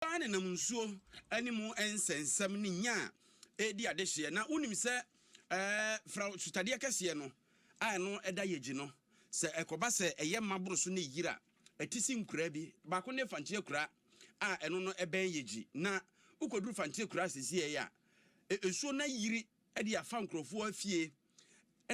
Ɔbaa no nam nsuo ne mu nsɛnsɛm ne nya a ɛredi adehyeɛ. Na wonim sɛ Farao sutadeɛ kɛseɛ no a ɛno da Yegyi no, sɛ ɛkɔba sɛ ɛyɛ ma boro so na ɛyiri a, ɛte se nkuraa bi. Baako ne Fanteɛ Kuraa a ɛno no bɛn Yegyi. Na wokɔduru Fanteɛ Kuraa seesei a, nsuo no ayiri de afa nkurɔfoɔ afie.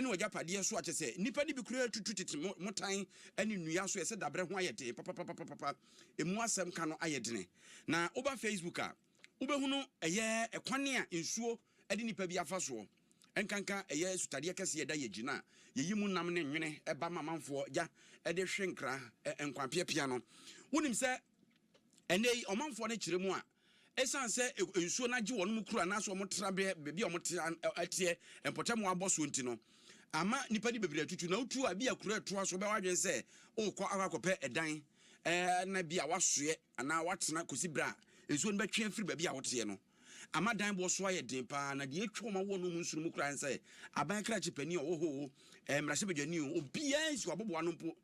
ne w'agyapadeɛ nso a, kyerɛ sɛ, nnipa no bi koraa tutu tete mmotan ne nnua so. Ɛsɛ dabrɛ ho ayɛ den papapapapapa, emu asɛm ka no ayɛ dene. Na woba Facebook a, wobɛhunu ɛyɛ ɛkwan a nsuo de nnipa bi afa soɔ, ɛnkanka ɛyɛ sutadeɛ kɛseɛ ɛda yɛn akyi no a, yɛyi mu nam ne nwene ba ma amanfoɔ gya de hwe nkra nkwa piapia no. Wonim sɛ ɛnnɛ yi ɔmanfoɔ no kyerɛ mu a, Esiane sɛ nsuo no agye wɔn kuro anaasɛ wɔn trabea baabi a wɔte teɛ mpɔtam wɔ abɔsoɔ nti no ama nnipa de bebree atutu na wotu a bi a kuro ɛtoa so bɛwɔ adwene sɛ wokɔ akɔ akɔpɛ ɛdan na bi a wasoɛ anaa watena kɔsi berɛ a nsuo no bɛtwe afiri baabi a woteɛ no ama dan boɔ so ayɛ den paa na deɛ ɛtwa wɔn awoɔ no mu nsono mu koraa sɛ aban krakye panin a ɔwɔ hɔ o mmarahyɛbadwani o obiara nsi wɔ aboboa no mpo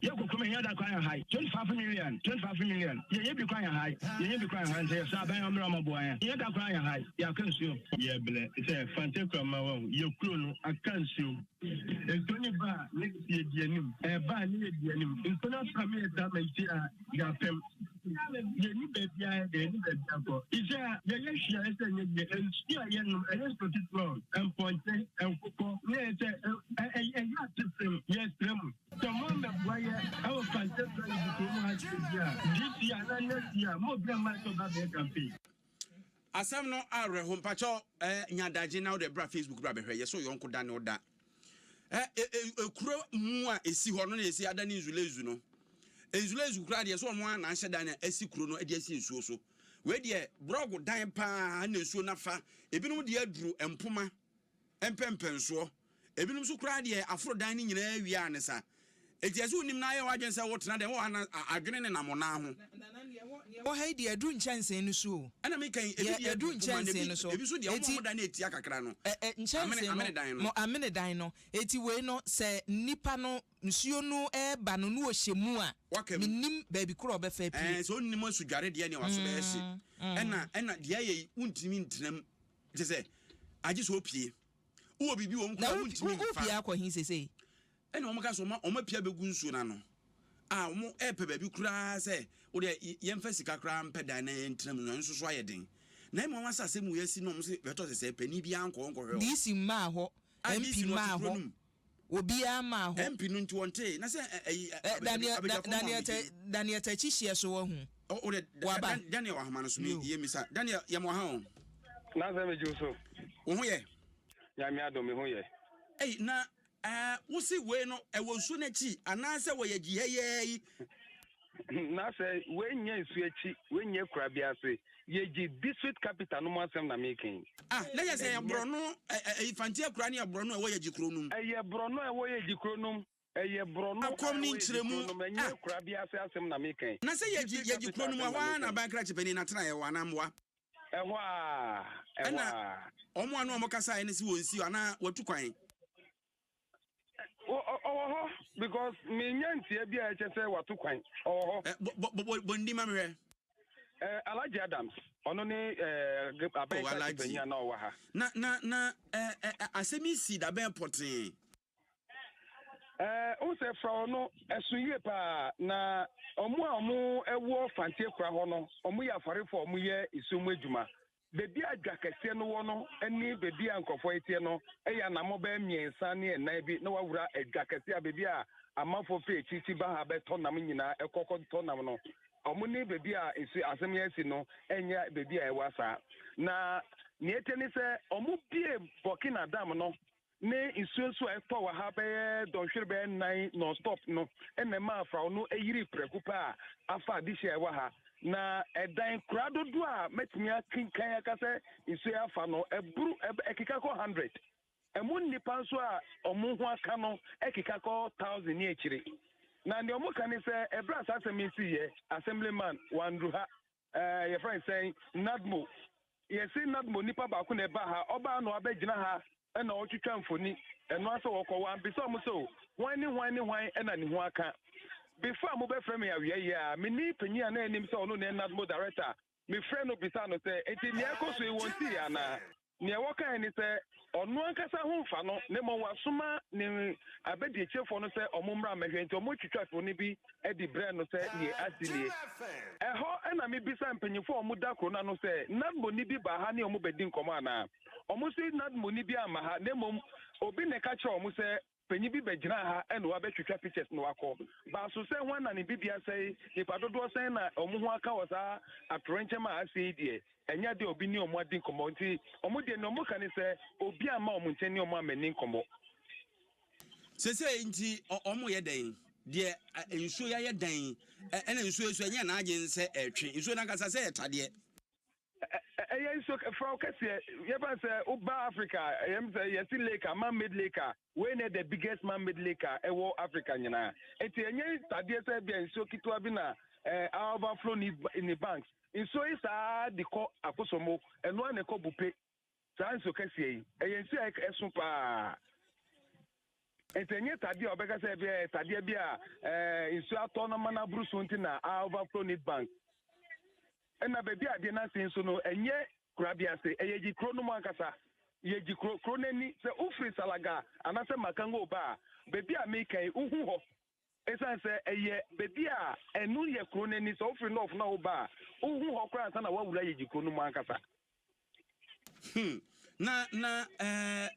Yɛ kɔ krom yɛ da kwan yɛ hae twenty five million twenty five million yɛ yɛ bi kwan yɛ hae yɛ yɛ bi kwan yɛ hae nsɛ yɛ sɔ abɛn yɛ ɔmrɛ ɔmɔ boa yɛ yɛ da kwan yɛ hae yɛ aka nsuo yɛ blɛ sɛ fante kura ma wɔ yɛ kuro no aka nsuo nsuo ne ba a ne yɛ di anim ɛba a ne yɛ di anim nsuo no afra me yɛ ta ma isi a yɛ apɛm yɛ ni baabi a yɛ yɛ ni baabi akɔ isi a yɛ yɛ hwia yɛ sɛ yɛ yɛ nsuo a yɛ nom ɛyɛ nsuo titun mpɔnkye nkokɔ ne yɛ sɛ ɛyɛ atesem yɛ srɛ mu. Sɛ mo amɛboa yɛ ɛwɔ Kante Kura Yezu Kuro mu ha sɛsi a, this year anaa next year, mo obi amma sɛ ɔba bɛyɛ campaign. Asɛm no awerɛho mpakyɛw eh, nya adagye na wode bra Facebook bra bɛhwɛ yɛ so yɔnko da ne ɔda eh, eh, eh, ekuro mu a esi hɔ no na esi ada ne nzulezu no nzulezu koraa deɛ so ɔmo a na ahyɛ dan na esi kuro no de asi nsuo so wei deɛ brɔgo dan paa na nsuo nafa ebinom deɛ aduru mpoma mpɛmpɛnsoɔ. Ebinom nso koraa deɛ aforo dan no nyinaa awie ara ne sa. Enti ɛsɛ wonim na ayɛ w'adwene sɛ wotena dɛn wɔ hɔ a na adwene nenam wo nan ho. Deɛ ɛwɔ ha yi deɛ aduru nkyɛnsee no so o. Ɛna me kan yi, ebi deɛ aduru nkyɛnsee no so. Ebi nso deɛ wɔn a wɔn dan no yɛ tia kakra no. Nkyɛnsee no, amene dan no. Amene dan no. Enti wei no sɛ nipa no nsuo no reba no na ɔhyɛ mu a, menim baabi korɔ a ɔbɛfa apue. Ɛɛ sɛ ɔnnim asudware deɛ nea w'aso bɛyɛ hye. Ɛna ɛna deɛ ayɛ yi wontumi ntena mu. Kyerɛ sɛ, agye sɛ opue. Wowɔ biribi wɔ wo nkura a wuntumi mfa. Na wopue akɔ he seesei? Ɛnna wɔkaa sɛ wɔapue abegu nsuo no ano a wɔrepɛ baabi koraa sɛ wo deɛ yɛmfa sika koraa mpɛ dan na yɛntena mu no, ɛno nso so ayɛ den. Na mmom wɔn asase mu yɛasi no, wɔn se bɛtɔ sɛsɛɛ, panin biara nkɔ hɔ nkɔhwɛ wɔn. DC mmaa hɔ, MP mmaa hɔ. obiara mmaa hɔ. MP no nti wɔntee na sɛ ɛyi abɛgyafo ma wɔn gye. Daniel takyi hyeɛ so wahu. O dɛ Daniel ahoma no so mi yɛ mi sa Daniel yɛ mo ha o. Na sɛ mi gye so. Wo ho yɛ. Nyame adom mi ho yɛ. Ei na wosi wei no ɛwɔ nsuo no akyi anaasɛ wɔyɛ gyi hɛyɛɛ yi. na sɛ w'anya nsu akyi w'anya kura bi ase yɛgye district capital no mu asɛm na meka yi. Ah, na yɛ sɛ ɛyɛ borɔno ɛyi fanti akura ne yɛ borɔno ɛwɔ yɛgye kuro nom. Ɛyɛ borɔno ɛwɔ yɛgye kuro nom. Ɛyɛ borɔno a ɛwɔ yɛgye kuro nom ɛnyɛ ah. kura bi ase asɛm na meka yi. Na sɛ yɛgye yɛgye kuro nom ɛhɔ ara na aban krakye panin na tena ɛwɔ anaa mmoa. Ɛhɔ a ɛhɔ a. Ɛna wɔn ano a wɔn kasa ɛne si wɔn nsi anaa wɔtu kwan. ɔwɔ hɔ because menya ntia bi a ɛkyɛ sɛ wato kwan ɔwɔ hɔ. Eh, bɔndi ma mehwɛ. Eh, Alhaji Adams ɔno ne eh, abɛn oh, kati panyin a na ɔwɔ ha. na na na eh, eh, eh asɛm yi si dabɛn pɔtee. Eh, wo sɛ fra ɔno ɛso yie paa na ɔmo a ɔmo ɛwɔ fantie kora hɔ no ɔmo yɛ afarefo ɔmo yɛ esuo mu adwuma. Baabi a dwa kɛseɛ no wɔ no ne baabi a nkurɔfoɔ reteɛ no yɛ anammɔn bɛyɛ mmiɛnsa ne nnan bi na wawura dwa kɛseɛ a baabi a amanfoɔ firi akyirikyi ba ha bɛtɔ nam nyinaa kɔ kɔtɔ nam no. Wɔn ne baabi a nsu asɛm yɛ asi no nyɛ baabi a ɛwa saa. Na nea ɛte ne sɛ wɔbue Burkina Dam no ne nsuonsuo a ɛtɔ wɔ ha bɛyɛ dɔnhwere bɛyɛ nnan nonstop no na ɛma afrao no yiri prɛko pɛ a afa adehye a ɛwɔ ha na ɛdan kura dodoɔ a mɛtumi akenkan aka sɛ nsuo yɛ afa no ɛburu ɛkeka kɔ hundred ɛmu nnipa nso a wɔn ho aka no ɛkeka kɔ thousand ne akyire na deɛ wɔn ka ne sɛ ɛbrɛ asasɛm yi si yɛ assemblyman wanduru ha Ɛɛ, yɛfrɛ no sɛn? Nadmo. Yɛse Nadmo nipa baako na ɛbaa ha. Ɔbaa na wabɛgyina ha na ɔretwitwa mfoni. Ɛno ara sɛ wɔkɔ. Wɔammisa wɔn sɛ, O, hwan ne hwan ne hwan na ne ho aka? Before a mobɛfrɛ me awia yi a, me ne panyin a na ɛnim sɛ ɔno na ɛyɛ Nadmo director, mefrɛɛ no bisaa no sɛ, Enti nea ɛrekɔ so yi, wɔntii yɛn anaa? Nea wɔkae ne sɛ, Ɔno ankasa ho mfa no, na mmom wasoma ne abadiakyirefoɔ no sɛ wɔmmra mmɛhwɛ. Enti wɔtwitwaa kuro no bi de brɛɛ no sɛ deɛ asi nie. Ɛhɔ na mebisaa mpanimfoɔ a wɔda kuro no ano sɛ, Nadmorni bi baa ha ne wɔn bɛdi nkɔmmɔ anaa? Wɔse, Nadmorni biara mma ha, na mmom obi na ɛka kyerɛɛ wɔn sɛ, Panyin bi bɛgyinaa ha na wabɛtwitwa pictures na wakɔ. Baa so sɛ hwan na ne bibia sɛe, nipa dodoɔ sɛn na ɔmo ho aka wɔ saa atorenkyɛm a asɛe yi deɛ, ɛnyɛ adeɛ a obi ne ɔmo adi nkɔmmɔ. Nti ɔmo deɛ nea ɔmo ka ne sɛ obi amma ɔmo nkyɛn ne ɔmo ammanni nkɔmmɔ. Sesei nti ɔmo yɛ dɛn? Deɛ nsuo yayɛ dɛn? Ɛna nsuo yi so ɛnyɛ n'adwene sɛ ɛretwe. Nsuo no ankasa sɛ ɛtadeɛ. ɛyɛ nsuo furaw kɛseɛ yɛfa sɛ woba africa ɛyɛm sɛ yɛsi lake a man made lake a wei na the biggest man made lake a ɛwɔ africa nyinaa nti ɛnyɛ tadeɛ sɛ bia nsuo ketewa bi na ɛɛ eh, overflow ne ne banks nsuo yi saa de kɔ akosomo ɛnoa na ɛkɔ bupe Saa nso kɛseɛ yi, ɛyɛ nsuo a ɛso paa. Nti ɛnyɛ tadeɛ a ɔbɛka sɛ ɛbɛyɛ eh, tadeɛ bi a eh, nsuo atɔ na ma no aboro so nti na a overflow need bank. Ɛna baabi a adeɛ no ase nso no, ɛnyɛ kura bi ase, ɛyɛ gyi kuro no mu ankasa. Yɛ gyi kuro, kuro no ani. Sɛ wofiri Salaga anaasɛ Makango ba a, baabi a meka yi, wohu hɔ. Esiane sɛ ɛyɛ baabi a ɛno yɛ kuro no ani, sɛ wofiri North na woba a, wohu hɔ koraa ansa na woawura Yegyi kuro no mu ankasa. Hmm. Na na ɛɛ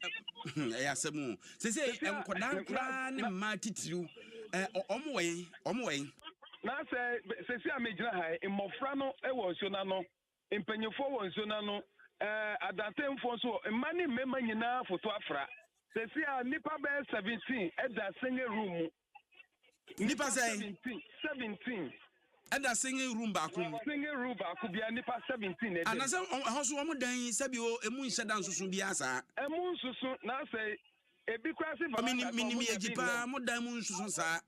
hmm, ɛyɛ asɛm o. Sese nkwadaa nkoraa ne mmaa titiriw ɛɛ wɔn wɔ yɛn wɔn wɔ yɛn. Na sɛ sese a megyina ha yi, mmɔfra no wɔ nsuo no ano mpanyimfoɔ wɔ nsuo no ano, ɛɛ adantenfoɔ nso wɔ mma ne mmarima nyinaa foto afra. Sɛsi a nnipa bɛyɛ seventeen ɛda singing room mu. Nnipa sɛn? Seventeen. Seventeen. Ɛda singing room baako mu. Singing room baako bia nnipa seventeen na ɛda mu. Anasɛ ɛhɔ so wɔn dan yi sɛbi o emu nhyɛ da nsoso biara saa. Emu nsoso na asɛ ebi kura se. Minim minim yɛ gyi paa mo dan mu nsoso saa.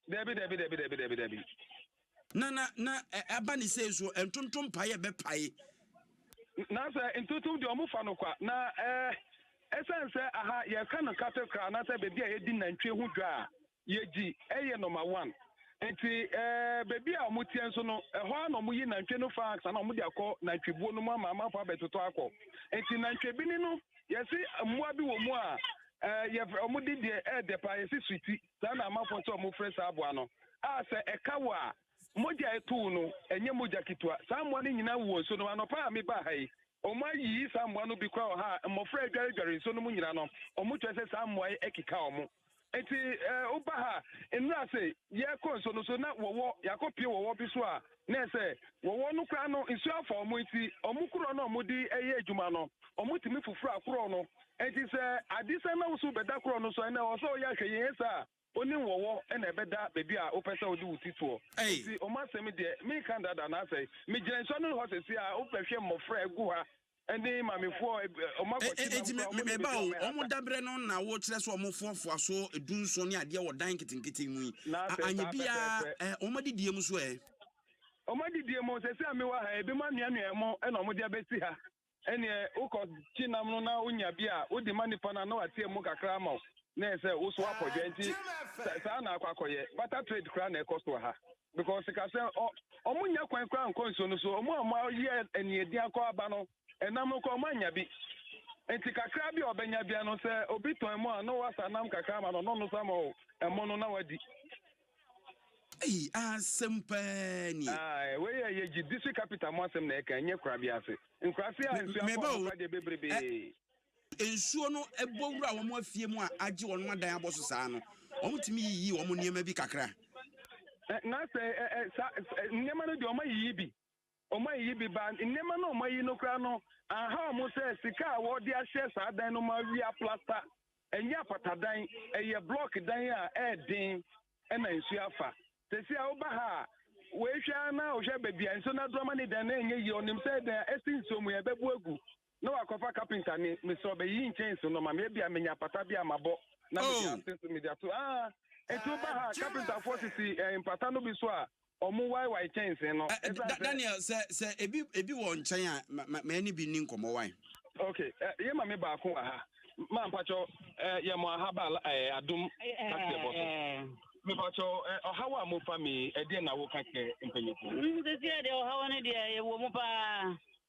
Dabi dabi dabi dabi dabi dabi. Na na na ɛba ne sɛ nso ntontom pae a ɛbɛpae. Na sɛ ntontom deɛ wɔn fa no kwa na ɛɛ ɛsan sɛ aha yɛka no kate koraa na sɛ beebi a yɛdi nantwie ho dwa a yɛgyi ɛyɛ nɔma one. Nti ɛɛ beebi a wɔn teɛ nso no ɛhɔ a na wɔn yi nantwie no fa aksa na wɔn de akɔ nantwibuo no mu ama amanfo abɛtotɔ akɔ. Nti nantwie bi ni no yɛsi mmoa bi wɔ mu a ɛɛ yɛ wɔn de deɛ ɛɛdɛ paa yɛsi suti. Saa na amanfoɔ nso a wɔfrɛ saa aboa no, a sɛ ɛka wo a, mogya a ɛto wo no, ɛnyɛ mogya ketewa. Saa mmoa no nyinaa wowɔ nsuo no mu. Anɔpa a mebaa ha yi, wɔayiyi saa mmoa no bi koraa wɔ ha a mmɔfra adwaredware nsuo no mu nyinaa no, wɔkyerɛ sɛ saa mmoa yi akeka wɔn. Nti woba ha nnura ase yɛkɔ nsuo no so na wɔwɔ yɛakɔpie wɔwɔ bi so a Na sɛ wɔwɔ no koraa no, nsu afa wɔn nti, wɔn korɔ no a wɔde yɛ adwuma no, wɔtumi foforo akorɔ no. Enti sɛ ade sɛ na wo so bɛda korɔ no so a, ɛnna ɛwɔ sɛ woyɛ ahwɛyie, ɛnyɛ saa a, onim wɔwɔ na ɛbɛda baabi a wopɛ sɛ wode wo ti toɔ. Enti wɔn asɛm deɛ, menka dada anaasɛ megyina nsuano no hɔ sɛsɛ a, wobɛhwɛ mmɔfra a ɛgu ha Ɛnde mamefoɔ a wɔn E, akɔhye e, nam enti me, koraa, me, wɔn na meba wɔbɛdi o, wɔn wɔn hata. daberɛ no na wokyerɛ sɛ wɔn foafoa so dunson ne adeɛ wɔ dan nketenkete mu yi, Na a, sɛ anyɛ saa biara pɛpɛɛpɛ. ɛ, wɔn adidie mu nso ɛ? Wɔn adidie mu, seesei a mewɔ ha yi, ebinom anoanoa ɛmo na wɔde abɛsi ha. Ɛnneɛ wokɔkye nam no na wonya bi a, wode ma nnipa no a, na wateɛ mu kakra ama wo, na ɛyɛ sɛ wosoa apɔdwɛ. Enti sa, saa na akɔ akɔyɛ. Barter trade koraa na ɛkɔ so wɔ ha. because ka sɛ ɔmo nya kwan koraa nkɔ nsuo no so ɔmo a ɔmo ayɛ aniɛdi akɔ aba no ɛnam no koraa ɔmo anya bi nti kakra bi a ɔbɛnya bia no sɛ obi tɔn mu a na wasa nam kakra ma no ɔno no sama o ɛmo no na wadi. Eyi asɛm paa ni. Ayi wei yɛ yɛ gyi district capital mu asɛm na ɛka nyɛ kura bi ase nkura se a nsuo akɔ ɔmo kura deɛ bebrebe. nsuo no bɔ wura wɔn afie mu a agye wɔn adan abɔ so saa no wɔtumi yiyi wɔn nneɛma bi kakra. na sɛ nneɛma no deɛ wɔayiyi bi wɔayiyi bi ba nneɛma no wɔayi no koraa no aha wɔn sɛ sika a wɔde ahyɛ saa dan no mu awia plasta ɛnyɛ apatadan ɛyɛ blɔk dan a ɛɛden ɛna nsuo afa tɛsi a woba ha a wɔahwɛ na wɔhwɛ baabi a nsuo no adorɔma ne dan na ɛnyɛ yie ɔnim sɛ dan ɛsi nsuo mu yɛbɛbu agu na wakɔfa kapinta ne me sɛ ɔbɛyi nkyɛn so nɔma me ebia menya apata bi a mabɔ na mede oh. ase so mede ato ah eti woba ha kapintafoɔ sisi eh, mpata no bi so a ɔmo waewae kyɛnsee no. Eh, eh, daniel sɛ sɛ ebi ebi wɔ nkyɛn a mɛ ne bi ni nkɔmɔ wan. ok eh, yɛ ma me baako wɔ ha maa mpakyɛw yɛ mo ahaba adum kaseɛ bɔ so. mepatɔ ɔhaw a mofa me ɛdeɛ na woka kyerɛ mpanyimfo sɛsiɛ deɛ ɔhaw no deɛ yɛwɔ mu paa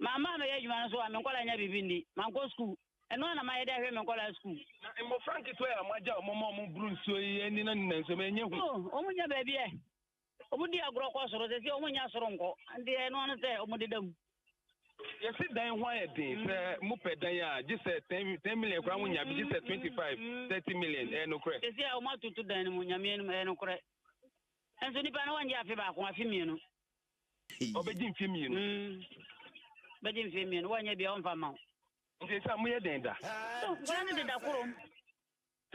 Mamma ammɛyɛ adwuma no so a me nkwadaa nnya biribi nni. Mankɔ sukuu. Ɛno ara na mayɛ de ahwɛ me nkwadaa sukuu. Na mmofra nketewa yi a moagya wɔn ma wɔboro nsuo yi ani na ne nanso ɛnyɛ hu. Oh, wɔnnya baabi ɛ. Wɔdi agorɔ kɔ soro, sɛ sɛ wɔnnya soro nkɔ. Nti ɛno ano sɛ wɔdeda mu. Yɛsi dan ho ayɛ den. Sɛ mopɛ dan a, gye sɛ 10, 10 million koraa monya bi, gye sɛ 25, 30 million. Ɛyɛ nokorɛ. Sɛ sɛ wɔatoto dan no mu, Nyame anim, ɛyɛ nokorɛ. Nanso nipa no wɔngye afe baako, afe mmienu. ɔbɛgye mfe mmienu. Mm, bɛgye mfe mmienu, wɔnyɛ bia ɔmfa ma wo. Nti sɛ moyɛ dɛn da? So nkwadaa no deda korom.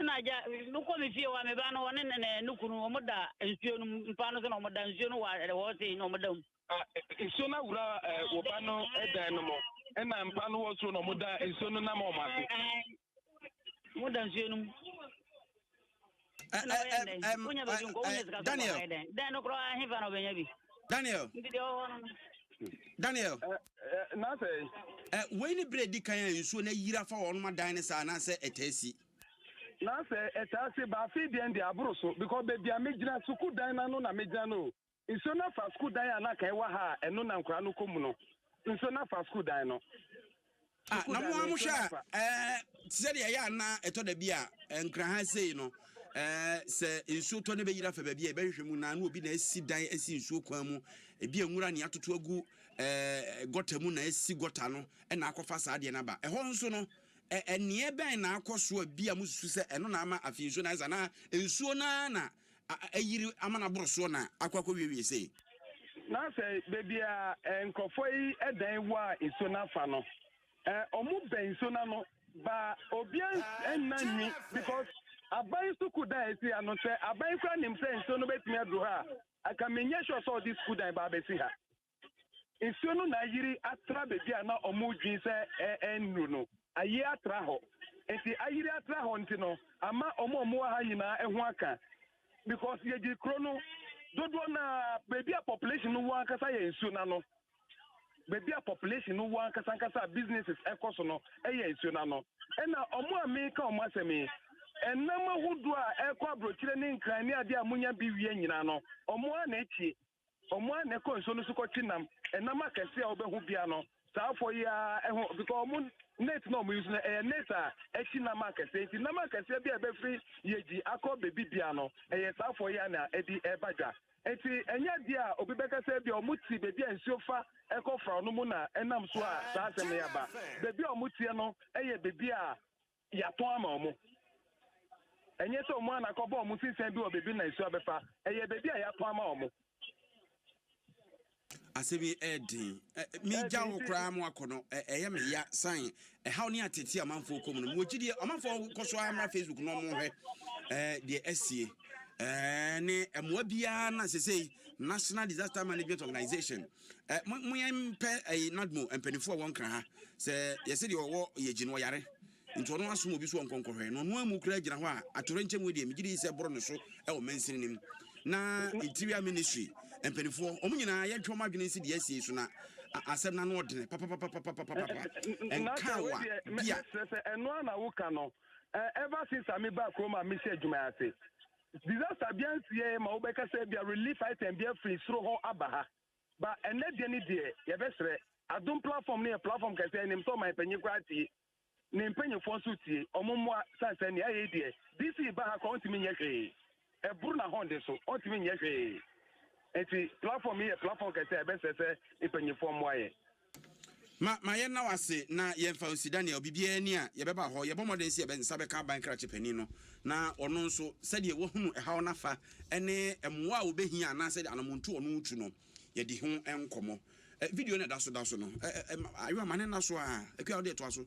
Ɛna agya, mekɔ me fie hɔ a, me ba no wɔne ne ne ne kunu wɔn da nsuo no mu mpa no so na wɔn da nsuo no wɔ wɔ se na wɔn da mu. Nsuo no awura wɔ ba no dan no mu, ɛna mpa no wɔ soro na wɔn da nsuo no nam wɔn ase. mo da nsuo no mu wonya baabi nkɔ wonya sika sɛ kɔhae dɛn dɛn no koraa hefa na ɔbɛnya bi daniel nti deɛ ɔwɔ no daniel na sɛ wei ne berɛ di kan a nsuo no ayira fa wɔnom adan ne saa anaasɛ ɛtaa si na sɛ ɛtaa si baafe deɛn deɛ aboro so because baabi a megyina sukuudan no ano na megyina no Nsuo no afa sukuu dan a na anka ɛwɔ ha a ɛno na nkwadaa no kɔ mu no. Nsuo no afa sukuu dan no. Ah, na mo ara mohwɛ a, ɛɛ, te sɛ deɛ ɛyɛ a na ɛtɔ da bi a, nkran ha sei no, ɛɛ, sɛ nsuo tɔ na ɛbɛyiri afa baabi a yɛbɛhwehwɛ mu na na obi na asi dan asi nsuo kwan mu, ebi a nwura ne atoto agu ɛɛ gɔta mu na asi gɔta no na akɔfa saa deɛ no aba. Ɛhɔ nso no, ɛneɛ bɛn na akɔ so a bi a mosusu sɛ ɛno na ama afei nsuo no ayɛ saa anaa nsuo no ara na ayiri ama no aboro soɔ na akɔ akɔwiewie sei. Na sɛ baabi a nkurɔfoɔ yi dan wɔ a nsuo no afa no, wɔn bɛn nsuo no ano baa obiara nna nwi because aban sukuu dan a ɛsi ha no sɛ aban koraa nim sɛ nsuo no bɛtumi aduru ha a, aka menyɛ sure sɛ ɔde sukuu dan baa bɛsi ha. nsuo no na ayiri atra baabi a na wɔredwin sɛ ɛnnuru no, ayie atra hɔ. Nti ayiri atra hɔ nti no, ama wɔn a wɔwɔ ha nyinaa ho aka. Because yɛgye kuro no dodoɔ no a baabi a population no wɔ ankasa yɛ nsuo no ano. Baabi a population no wɔ ankasa ankasa a businesses ɛkɔ so no yɛ nsuo no ano. Ɛna wɔn a meka wɔn asɛm yi, ɛnam ahodoɔ a ɛkɔ aburokyire ne nkran ne adeɛ a monya bi wie nyinaa no, wɔn a na akyi Wɔn ara na ɛkɔ nsuo no so kɔkye nam. Ɛnam akɛseɛ a wobɛho bia no, saa afɔ yi ara ɛho because wɔn net na wɔn use no ɛyɛ net a ɛkye nam akɛseɛ nti nam akɛseɛ bi a ɛbɛfiri yɛgyi akɔ baabi bia no ɛyɛ saa afɔ yi ara na ɛde ɛba dwa. Nti ɛnyɛ adeɛ a obi bɛka sɛ bia wɔn ti baabi a nsuo fa ɛkɔ fraw no mu na ɛnam so a saa asɛm no yɛ aba. Baabi a wɔn teɛ no ɛyɛ baabi a Yɛatɔn ama wɔn. Ɛnyɛ sɛ wɔn ana kɔbɔ wɔn sinsɛn bi wɔ baabi na nsu abɛfa. Ɛyɛ baabi a yɛatɔn ama wɔn. Asɛm yi ɛyɛ den. Megya wo koraa mo akɔ no, ɛyɛ me ya san ɛhaw ne atete amanfoɔ kɔ mu no. Mewɔ gyidie, ɔmanfoɔ kɔ so ara mmra Facebook na ɔmo hwɛ deɛ asie. Ne mmoa biara na sesei National Disaster Management Organization Eh, mo mo yɛn mpɛ eh, nadmo mpanimfoɔ a wɔn kra ha sɛ yɛsɛ deɛ ɔwɔ yɛ gyi no ɔyare nti ɔno asom obi so wɔn nkɔnkɔhwɛ na ɔno amu kura gyina hɔ a atore nkyɛn mu deɛ megye di sɛ boro no so ɛwɔ mansini nim na interior ministry mpanimfoɔ wɔn nyinaa yɛntwe wɔn adwene nsi deɛ asie so na asɛm no ano ɔdene papapapapapapapa nkawa bia. ɛno a na woka no eh, ever since a meba kurom a mehyɛ adwuma ase Disaster bia nsiɛ ma wobɛka sɛ bia relief item bia firi soro hɔ aba ha. Ba ɛnɛ deɛ ne deɛ yɛbɛsrɛ adom platform no yɛ platform kɛsɛ ɛnim sɛ ɔman panyin koraa tie ne mpanyinfoɔ nso tie ɔmo mmoa san sɛ nea ayɛ deɛ DC ba ha koraa ɔntumi nyɛ hwee ɛboro na hɔn de so ɔntumi nyɛ hwee nti platform yi yɛ platform kɛsɛ ɛbɛsrɛ sɛ mpanyinfoɔ mmoa yɛ. Ma ma yɛnna wo ase na yɛmfa wo nsi Daniel. Biribiara ni a, yɛbɛba hɔ. Yɛbɔ mmɔden sɛ yɛbɛn nsa bɛka aban krakye panin no na ɔno nso, sɛdeɛ wahunu ɛhaw no afa ne mmoa a ɔbɛhia anaasɛ anammɔntuo a ɔno retu no, yɛadi ho nkɔmmɔ. Video no a ɛda so da so no, ɛ ɛ ɛ Ayewa, ma no nna so ara. Akua, wo deɛ toa so.